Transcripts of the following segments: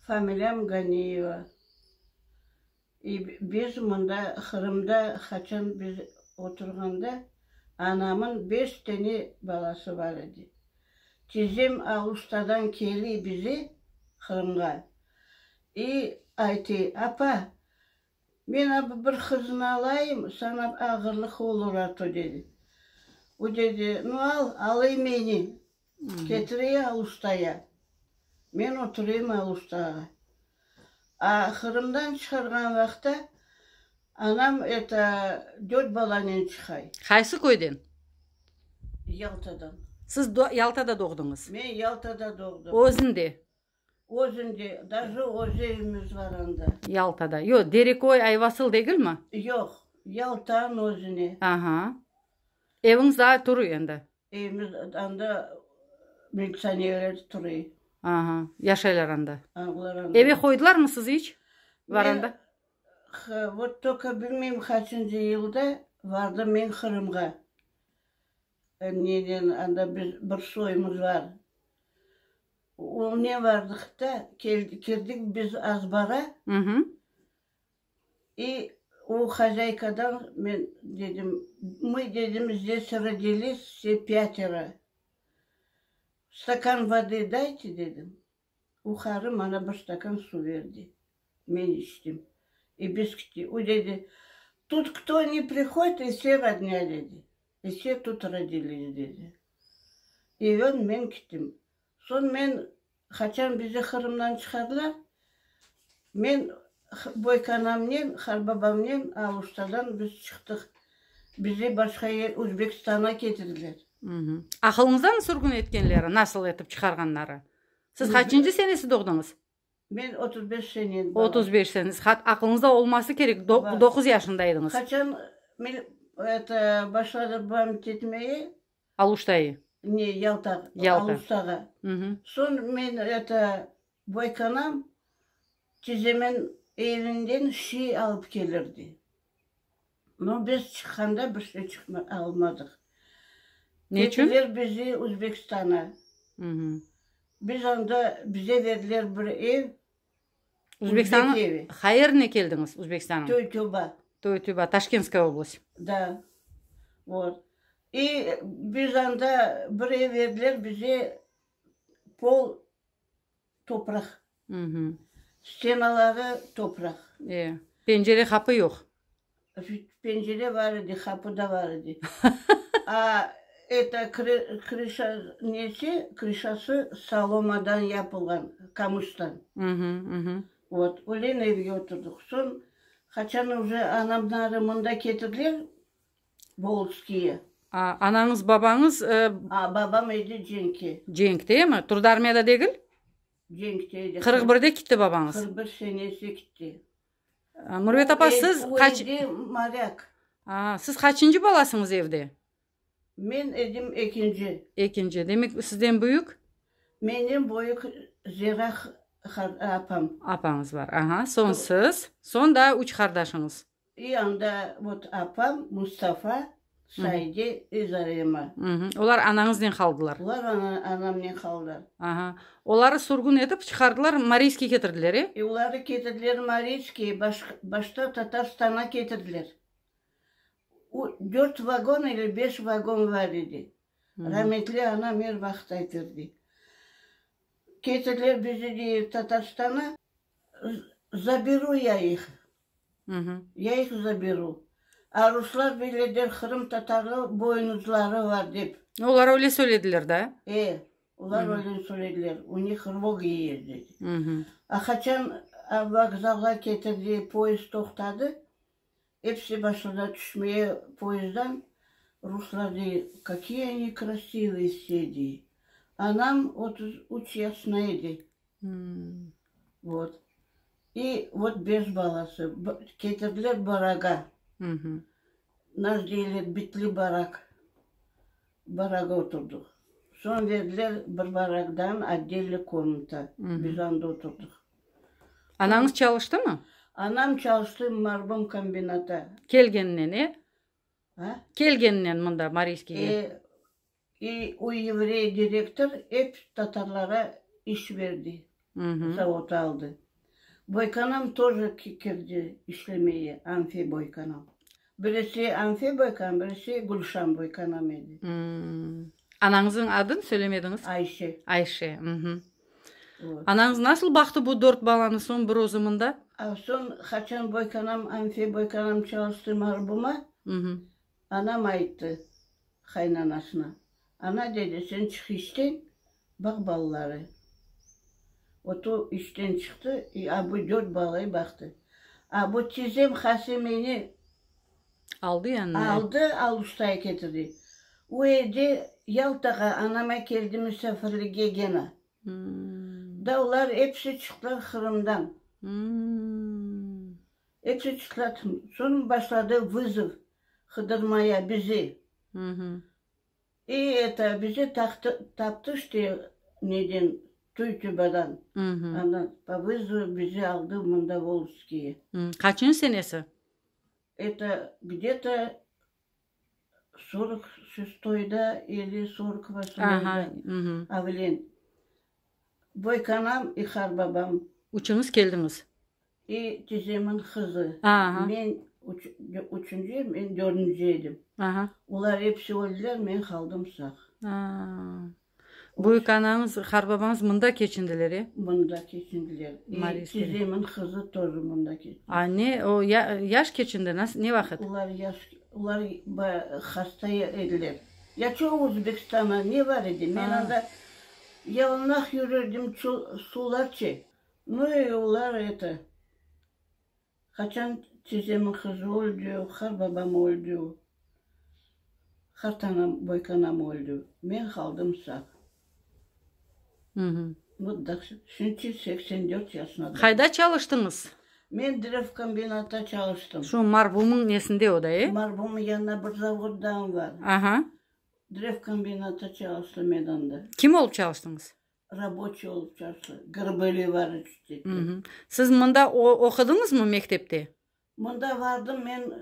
Familiyam Ganiyeva. İ, biz mında, Qırımda, qaçan biz oturğanda, anamın beş tene balası bar edi. Tizem Alustadan keli bize, Qırımğa, i aytı, Apa, Men apı bir qıznı alayım, saña ağırlıq olur artı, dedi. O dedi, Nu, al, alıy meni, ketirey Alustaya. Men oturayım Alustağa. A Qırımdan çıqarğan vaqta anam eto dört balanen çıqay. Qaysı köyden? Yaltadan. Siz Yaltada doğdıñız? Men Yaltada doğdım. Özün de? Özünde, daje öz evimiz bar anda. Yaltada. Yoq, Dereköy, Ayvasıl degilmi? Yoq, Yaltanıñ özüne. Aha. Eviñiz daa turıy endi? Evimiz anda militsionerler turıy. Aha, yaşaylar anda. A, olar anda. Eve qoydılarmı sizni iç? Varanda? Ha, vot, toka bilmeyim, qaçıncı yılda vardım men Qırımğa. Neden, anda biz bir soymuz bar. Onıñnen bardıq da, kirdik biz azbara. İ o hozâykadan men dedim, mı dedim, zdes rodilısvse pâtera, stakan vody dayte dedim. O qarı mana bir stakan suv berdi. Men içtim. E biz kitti. O dedi, Tut kto ne prihodit, e se rodnâ, dedi. E se tut rodilisi, dedi. E öñ men kittim. Soñ men, qaçan bizi Qırımdan çıqarlar, Men boykanamnen, harbabamnen Aluştadan biz çıqtıq. Bizi başqa yer, Uzbekistana ketirdiler. Aqılıñızdanmı sürgün etkenleri, nasıl etip çıqarğanları? Siz qaçıncı senesi doğdıñız? Men otuz beş sene. Otuz beş sene. Aqılıñızda olması kerek, doquz yaşında ediñiz. Qaçan, eto, başladı bam ketmeye, Aluştayı. Ne, Yalta, Alustağa. Soñ men eto, boykanam, tizemen evinden şiy alıp kelirdi. No biz çıqqanda bir şey almadıq. Ketiler bizi Uzbekistana. Biz anda, bize berdiler bir ev, Uzbekistanıñ Uzbeklevi. Hayırine keldiñiz Uzbekistanıñ? Töytüba. Töytüba, Taşkentskaya oblast. Da. Vot. İ biz anda bir ev berdiler bize, pol topraq. Mhmm. Stenaları topraq. E, pencere, qapı yoq. Pencere bar edi, qapı da bar edi. A eto krışa nesi, krışası solomadan yapılğan, qamıştan. Vot, ölen evge oturdıq. Soñ, qaçan uje anamnarı mında ketirdiler, Boltskiye. A anañız, babañız? A babam edi cenkte. Cenkte mi? Turdı armiyada degil? Cenkte edi. Qırq birde kitti babañız? Qırq bir senesi kitti. Mürvet apa, siz qaç. Evde malâk. Aa, siz qaçıncı balasıñız evde? Men edim ekinci. Ekinci. Demek, sizden büyük? Menden büyük Zera apam. Apañız bar. Aha, soñ siz, soñ daa üç qardaşıñız. İ anda vot apam, Mustafa, Saide, öz arayıma. Olar anañıznen qaldılar? Olar anamnen qaldılar. Aha. Oları sürgün etip, çıqardılar, Mariyskiyge ketirdiler, e? E, oları ketirdiler Mariyskiye, başta Tatarstana ketirdiler. O, dört vagon ile beş vagon bar edi. Rametli anam er vaqıt aytırdı. Ketirdiler bizi, dey, Tatarstana, zaberu ya ih. Ya ih zaberu. A ruslar böyle der, qırımtatarlı boynuzları var dep. Olar öyle söylediler da? E, olar öyle söylediler. U nıh rvogi yez dedi. A qaçan vokzalğa ketirdi, poezd toqtadı, episi başladılar tüşmeye poezddan. Ruslar dey, Kakıye ne krasivıye vse, dey. Anam otuz üç yaşına edi. Vot. İ vot beş balası. Ketirdiler baraga. Naş deyler bitli barak. Baraga oturdıq. Soñ verdiler bir baragdan otdelniy komnata. Biz anda oturdıq. Anañız çalıştımı? Anam çalıştı marbom kombinata. Kelgeninen, e? A? Kelgeninen mında, Mariyskiyge. E, I, o yevrey direktor ep tatarlara iş berdi, zavod aldı. Boykanam toje kirdi işlemeye, Anfiy Boykanam. Birisi Anfiy Boykanam, birisi Gülşan Boykanam edi. Anañızıñ adın söylemediñiz? Ayşe. Ayşe. Anañız nasıl baqtı bu dört balanı soñ bir özü mında? Soñ qaçan Boykanam, Anfiy Boykanam çalıştı Marbuma. Anam ayttı qaynanasına, Ana, dedi, sen çık işten, baq balaları. O to işten çıqtı, i abu dört balayı baqtı. Abu tizem Hasemeni Aldı yanına. aldı, Aluştayı ketirdi. O evde Yaltağa anama keldi müsafirlige gena. Da olar episi çıqtılar Qırımdan. Episi çıqsatın. Soñ başladı vızov qıdırmaya bizi. İ eta bizi taqtı, taptı işte neden, Tuytubadan. Ana, po vızovı bizi aldı mında Volžskiye. Qaçıncı senesi? Eta, gde to Sorq şestoyda ili sorq avlen boykanam i har babam. Üçüñiz keldiñiz. İ tizemiñ qızı. Men üçünci, men dördünci edim. Olar episi öldiler, men qaldım sağ. Büyük anañız, qarbabañız mında keçindiler, e? Mında keçindiler. Mariy Skıriñ. Tizemin qızı tozi mında keçindi. A, ne, o, ya, yaş keçindi, nas, ne vaqıt? Olar yaş, olar ba, hasta ya ediler. Ya ço Özbekistana ne bar edi, men Aa. anda yalınaq yürerdim, ço, sularçe. Nu, e, olar eto. Qaçan tizemi qız öldi, qar babam öldi, qartanam, boykanam öldi, men qaldım sağ. Vot dahşet. Şimdi seksen dört yaşnadam. Qayda çalıştıñız? Men Drevkombinatta çalıştım. Şu marhumıñ nesinde o da, e? Marhumıñ yanına bir zavoddan var. Aha. Drevkombinatta çalıştım men onda. Kim olıp çalıştıñız? Raboçiy olıp çalıştı, Grıbeli varı cüttetken. Hı. Siz mında oqudıñızmı mektepte? Mında vardım, men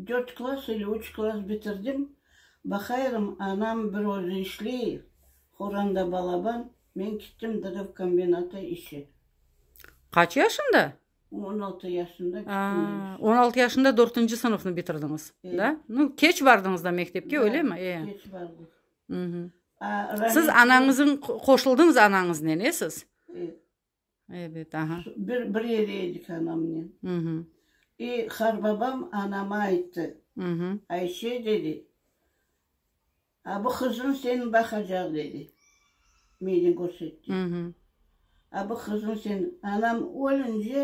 dört klass ili üç klass bitirdim. Baqayırım, anam bir özü işley, Horanda balaban, men kittim dırıv kombinatı işe. Qaç yaşında? On altı yaşında kittim men işe. Aa, on altı yaşında dörtünci sınıfnı bitirdiñiz, da? Ee. Keç bardıñız da mektepke, öylemi? Ee. Keç bardım. Siz anañızıñ, qoşuldıñız anañıznen, e, siz? Ebet, aha. Bir, bir yerde edik anamnen. E, qarbabam anama ayttı, Ayşe, dedi, a bu qızıñ seni baqacaq, dedi, meni körsetti. A bu qızıñ seni, anam ölünce,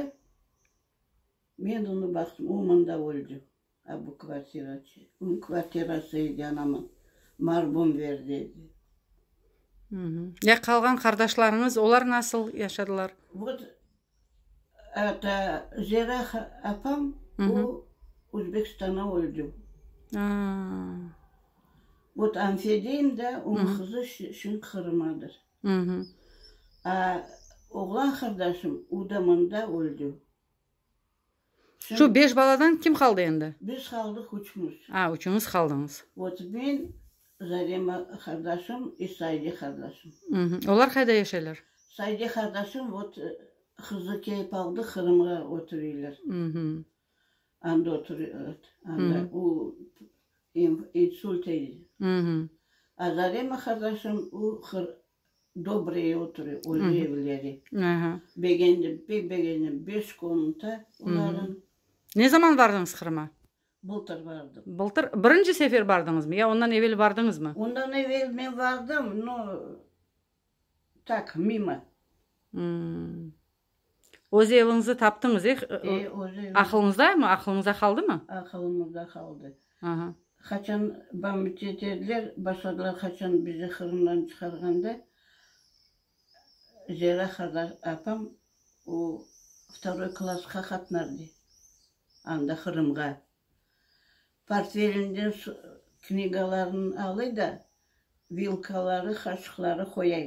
men onı baqtım, o mında öldü. A bu kvartiraçı, ün kvartirası edi, anamın, marbum ver dedi. Ya qalğan qardaşlarıñız, olar nasıl yaşadılar? Vot, ata, Zera apam, o Özbekistanda öldi. Vot, Anfediyim da, onıñ qızı şimdi Qırımdadır. A oğlan qardaşım, o da mında öldi. Şu beş baladan kim qaldı endi? Biz qaldıq üçümiz. A, üçüñiz qaldıñız. Ot men, Zarema qardaşım i Saide qardaşım. Mh. Olar qayda yaşaylar? Saide qardaşım ot qızı keyip aldı, Qırımğa ötüreyler. Mh. Anda ötür, öt, anda u inf, insultey. Mh. A Zarema qardaşım u Qır, Dobreye oturı, öz evleri. Begendim, pek begendim. Beş komnata olarnıñ. Ne zaman bardınız Qırıma? Bıltır bardım. Bıltır? Birinci sefer bardıñızmı ya ondan evel bardıñızmı? Ondan evel men bardım, no, tak, mimo. Öz eviñizni taptıñız, e? E, öz evim. Aqılıñızdamı? Aqılıñızda qaldımı? Aqılımızda qaldı. Aha. Qaçan bamıt eterler, başladılar qaçan bizi qırımdan çıqarğanda, Zera qardaş, apam o vtoroy klassqa qatnardı, anda Qırımğa. Portfelinden knigalarını alıy da, vilkaları, qaşıqları qoyay.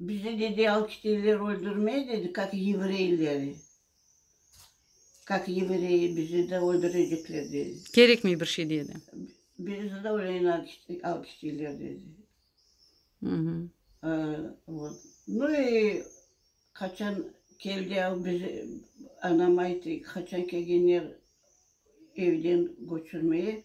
Bizi, dedi, alkitelâr öldürmey, dedi, kak yevreyleri, kak yevreyi bizi de öldürecekler, dedi. Kerekmey bir şey, dedi. Bizi de öleyin alkitelâr, dedi. Mhı. Vot. Nu, qaçan keldi, bizi, anam ayttı, qaçan kelgenler evden köçürmeye.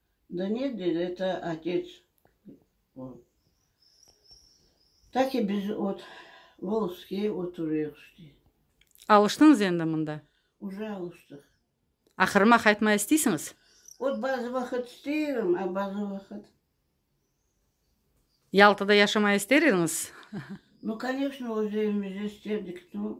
Da ne der eta otets o? Ta ki biz ot Volskıye oturıyıq şte. Alıştıñız endi mında? Uca alıştıq. Aqırıma qaytma isteysiñiz? Ot bazı vaqıt isteyim, a bazı vaqıt. Yaltada yaşamay ister ediñiz? No, koneçno, öz evimizde isterdik, no.